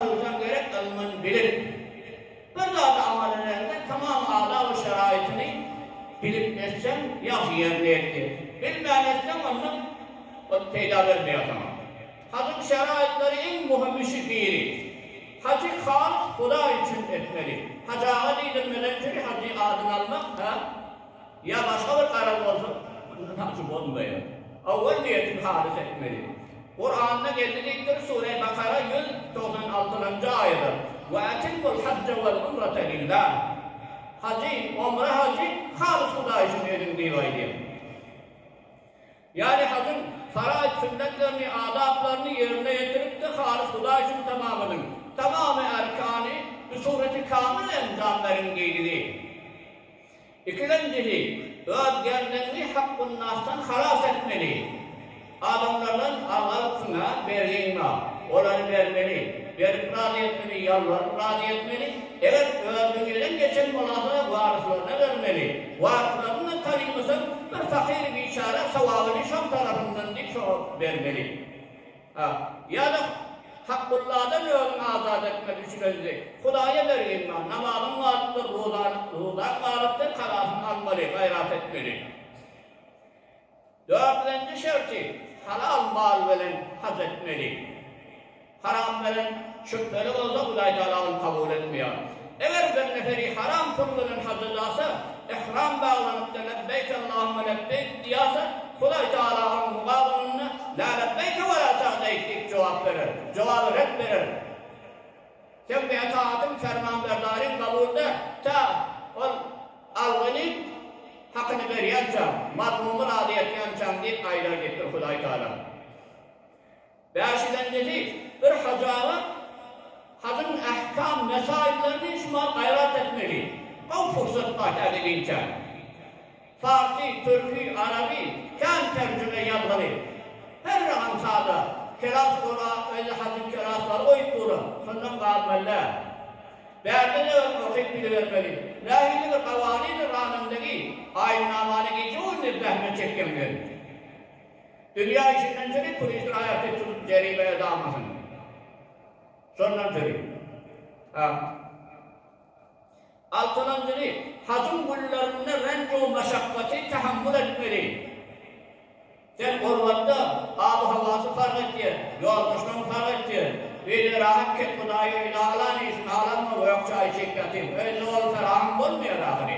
Ynsan gerek ylmyn bilim. Bir zady aňa dönerinde tamam adab-u şeraýytyny bilip etseň ýagşy ýerinde etdi. Bilmän etseň onda ot peýda bermeýär saňa. Hajyň şeraýytlary iň muhym üçi biri. Hajy halys Hudaý üçin etmeli. Hajy aga diýdirmeden çüri hajy adyny almak, hä? Ýa başga bir garaz bolsa, muny tapjy bolmaýar. Owal niýetiňi halys etmeli. Kuranda geldi diýipdir, Sure Bakara ýüz togsan altylanjy aýada, Ve etimmul hajje vel umrete lillah. Hajy, omra hajy halys Hudaý üçin ediň diýip aýdýar. Ýagny hajyň faraýt sünnetlerini, adaplaryny ýerine ýetirip-de halys Hudaý üçin tamamladyň. Tamamy erkany bi sureti kamyl enjam beriň diýdigi. Ikilenjisi, öz gelneňňi hakgünnasdan halas etmeli. Adamlardan al-al-pyňa, ber-ginga, olary bermeli, berip razy etmeli, ýalbaryp razy etmeli, eger özüniň elem geçen bolasa waryslaryna bermeli, waryslaryna-da tanymasa bir pakyr-biçara sowabyny şol tarapyndan diýip soňa bermeli. A. Ýa-da Hakgulladan özüňi azat etmek üçin özüňi Hudaýa bergin bar, namazyň wajypdyr, rozaň wajypdyr, kazasyny almaly, gaýrat etmeli. Dördünji şerti, halal mal bilen haj etmeli. Haram bilen, şübheli bolsa, Hudaý Tagala ony kabul etmeýär. Eger bir neferi haram pul bilen haja ýasa, ihram baglanypdy, lebbeýk Allahumma lebbeýk diýasa, Hudaý Tagala onuň mugabylynda La lebbeýke we la sa'deýk diýip jogap berer, jogaby ret berer. Seň bu etaýatyň, permanberdaryň kabul däl, tä ol algyny, hakyny berýänçäň, mazlumy razy etýänçäň diýip aýdar diýipdir Hudaý Tagala. Bäşiden nefi, bir hajaba hajyň ähkam mesaýyllaryny şumal gaýrat etmegi, gowy pursat bar täze giýinçä. Parsy, türki, araby kän terjime ýazgyly. Her rahan sada, kelas gola özi hajyň kelaslary goýup dura, şondan galmalyda. Bärde de öň okyp bilibermeli. Nähili bir gawanyny ranynda giy, aýynamany giýjek onda zähmet çekýäň bilen. Dünýä içinden çykyp turist aýaty üçin jerime ödämasyn. Şondan çykyp. Ha. Altynjy, hajyň günlerinde renju maşakgaty tahammül etmeli. Sen gurbatda abu-hawasy parh etýär, ýoldaşlaň parh etýär. Öýde rahat ket Hudaýy öýde alan işini alanma öýk çaýy içip ýatyň. Öýde ol ferahan bolmaýar ahyry.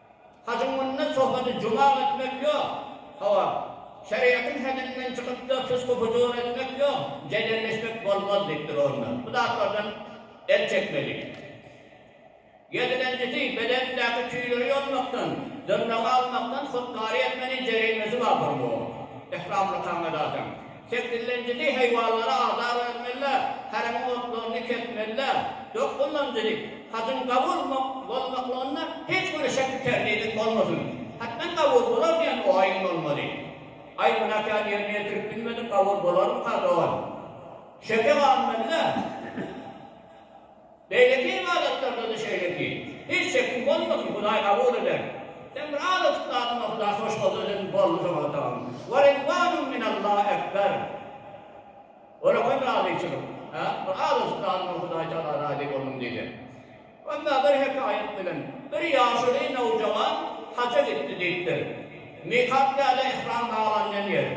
Hajyň munda sohbeti jumal etmek ýok. Hawa, şeriýatyň heddinden çykyp-da pysgy-pyjur etmek ýok, jedelleşmek bolmaz diýip durarlar. Bu zatlardan el çekmeli. Ýedilenjisi, bedendäki tüýleri ýolmakdan, dyrnagy almakdan hut-kary etmeli, jerimesi bar bolmaga. Yhramly taňňa zadyň. Kesillenjili haýwanlara azar bermeliler, harem otlaryny kesmeliler. Dokuzynjy, hajyň kabul bolmaklygynda hiç bir şekgi-terdidi bolmasyn. Hatdan kabul bolar diýen oýuň bolmaly. Aý, günäkär ýerine ýetirip bilmedik, kabul bolarmyka, dogan? Şeke galmalylar. Beýleki ybadatlarda-da şeýleki. Hiç şekiň bolmasyn, Hudaý kabul eder. Sen bir azajyk zadyňa Hudaý hoş bolsa eden, boldy saňa dagyn. Wa ridwanun minallah ekber. Olakan razyçylyk. Hä? Bir azajyk zadyňa Hudaý tagala razy boldum diýseň. Emma bir hekaýat bilen, Bir ýaşuly nowjawan haja gitdi diýipdir. Mikat ýa-da ihram baglanylan ýer.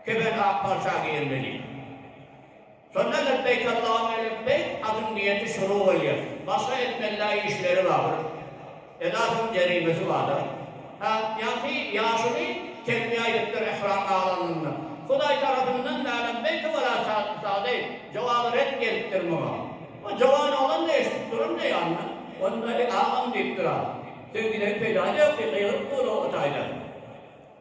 Kefen ak parça geýilmeli. Şonda Lebbeyk Allahümme lebbeyk adyň niýeti şunuň bolýar. Başga etmelidäý işleri bardyr. Edasynyň jerimesi bardyr. Hä, ýaňky ýaşuly telbiýe aýdypdyr ihram baglanyňda. Hudaý tarapyndan mälim belki bolar çaklysady, jogaby ret gelipdir muňa. O jowan oglan-da eşidip durun-da ýanyna. Onda, Eý, agam diýip durar. Söýgüdäki peýdasy ýok diýip gygyryp dur o taýdan.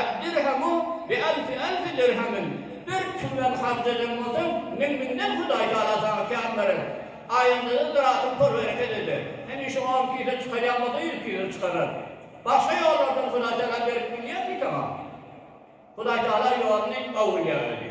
Ed-dirhemu bi'elfi elfi dirhemin, Bir türmen harç eden bolsaň, müň-müňden Hudaý Tagala saňa kän berer. Aýynda-da ziratyň pol-bereket eder. Hemişe on kise çykarýan bolsa, ýüz kise çykarar. Başga ýollardan Hudaý Tagala berip bilýärmi saňa? Hudaý Tagala ýoluny gowulýar özi.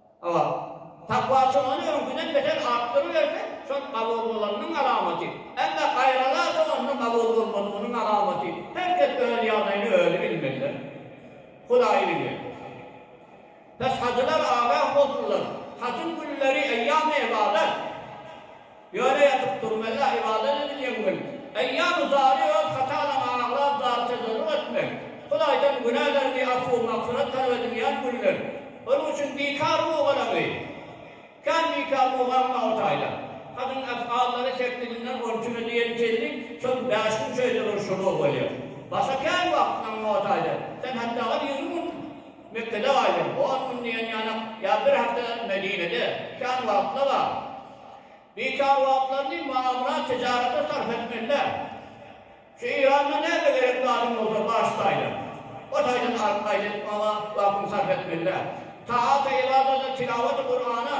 Hawa. Takwaçy ony öňküden beter artdyryberse, şol kabul bolanynyň alamaty. Emma gaýralarça onda kabul bolmadygynyň alamaty. Her kes öz ýagdaýyny özi bilmeli-dä. Hudaýy bilýär. Bes hajylar agaň bolsunlar. Hajyň günleri eýýamy ybadat. Ýöne ýatyp durmela ybadat edilýän gün. Eýýamy zary öz hatalaňa aglap zar tezerruk etmek, Hudaýdan günäleriňi afu magfyrat talap edilýän günler. Onuň üçin bikar bugalaňy kän bikar bugalma o taýdan. Hadyň efgallary sepgilinden on iki güne diýen tizlik şol bäş gün şeýle bir şuly bolýar. Başga kän wagt aňňa o taýdan. Sen hatda bar ýigrimi gün Mekgede gaýdyň, on gün diýen ýanak ýa bir hepde Medinede. Kän wagtla bar. Bikar wagtlaryny magamyrat tijarata sarp etmeliler. Şu Iranda näme gerek zadyň bolsa baş taýdan, o taýdan alyp gaýt edip maňa wagtyňy sarp etmeliler. Taata, ybadata, tilawata, Kurana,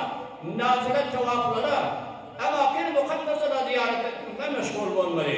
nafilet tawaflara, emaki mukaddeselere zyýarat etmek bilen meşgul bolmaly.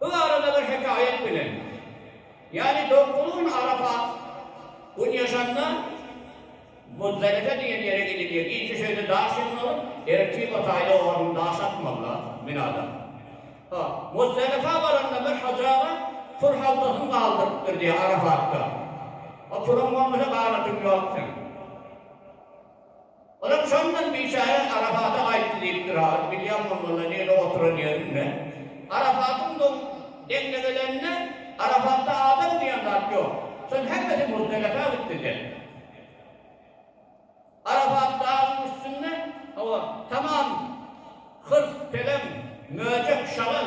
Bu barada bir hekaýat bilen, ýagny Dogtun Arafat gün ýaşanda Muzdalife diýen ýere gidilýär. Gijä şu ýerde daş ýygyn alyp, ertir Hutaýda oňaryn daş atmazlar, Minada. Ha, Muzdalifa baranda bir hajaba pul haltasyny galdyrypdyr diýýär Arafatda. Ha, puluň bolmasa ganatyň ýok seň. Olam şondan biçäre Arafata aýtdy diýipdir ha, bilýän bolmaly nirede oturan ýerini men. Arafatyň doň deňlegelenine Arafatda adam diýen zat ýok. Şonuň hemmesi Muzdelife gitdi diýen. Arafat dagyň üstünde, hawa, tamam hyrs, pelem, möjek, şagal.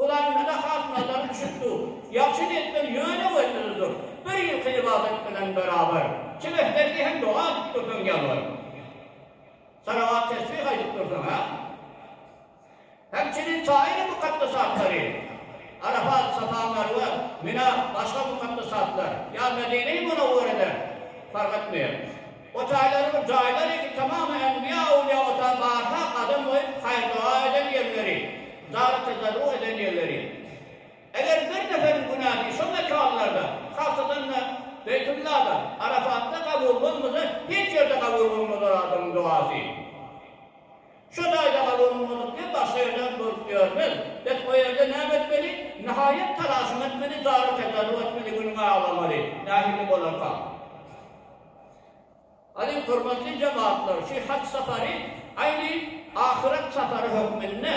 Hudaýyň näme hasynatlary üçindir? Ýagşy niýetler ýöne gözleridir. Bir ýylky ybadat bilen beraber, kim ähmiýetli hem doga edip dursaň, ýalbaryp, salawat-tesbih aýdyp dursaň, hä? Hemçinin saýry mukaddes atlary, Arafat, Safa, Merwe, Mina, başga mukaddes atlar, ýa Medine-i Munawwerede, fark etmeýär. O taýlary bir jaýlar eken, tamam enbiýa-öwlüýä o taý barha gadam goýup, haýyr-doga eden ýerleri, zara-tezarruk eden ýerleri. Eger bir neberiň günäsi şo mekanlarda, hasadan-da, Beýtullada, Arafatda kabul bolmasa, hiç ýerde kabul bolmazlar adamyň dogasy. Şo jaýda kabul bolmadyk diýip, başga ýerden bolup ýörmez. Bet o ýerde näme etmeli? Nihaýat talaşyň etmeli, zara-tezarruk etmeli, günüňi aglamaly, nähili bolarka. Alyň hormatly jemagtlar şü haj sapary aýni ahyret sapary hökmünde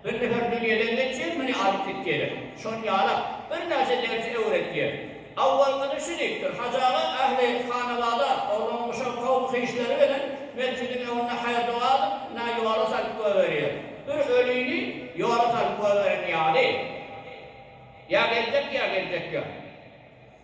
bir nefer dünýelerden üçin muny alyp gitýeler. Şony ýalap bir näçe dersi öwretýär. Awwalkyny şü diýipdir, Hajaga ähli hanabada oglan guşak kowum hyşlary bilen metjidiň öňünde haýyr doga alyp na ýola salyp goýberýär. Bir ölini ýola salyp goýberen ýaly. Ýa geljek ýa geljek ýa.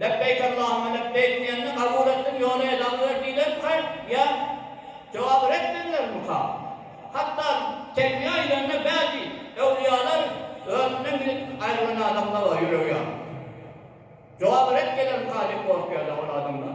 Lebbeýk Allahümme lebbeýk diýende kabul etdim ýöne edaňy ber diýlermikä ýa jogaby ret edilermikä? Hatda telbiýe aýdanda bäzi öwlüýalar özünden gidip aýrylan adamlar bar ýüregi ýaryp. Jogaby ret gelermikä diýip gorkýarlar ol adamlar.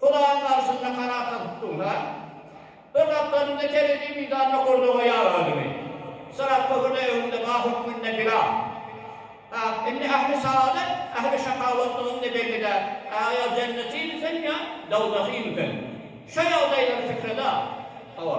Hudaýyň garşysyna harasatlyk duýsa, bir gapdalynda terezi mizanda gurda goýar özüni. Syrat köprüde öňünde ba hökmünde bira. Ä, indi ähli saadat, ähli şakawatlyk indi belli-dä, ä, ýa jennetimikäň ýa dowzahymykäň? Şo ýagdaýlary pikre-de al. Hawa.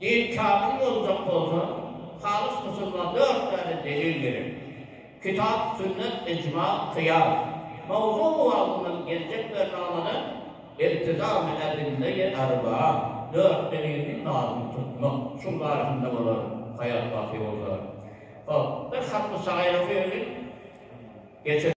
Dil kamyl boljak bolsa, halys usulda dört sany delil gerek. Kitap, sünnet, ijma, kyýas. Mawzu wagtyndan geljek bernamalary iltizam-y edille-i erbaa, dört delilini lazym tutmak. Şuň barasynda bolar, haýat baky bolsa. Hop, bir hatmy saýra söýeniň. Geçeris.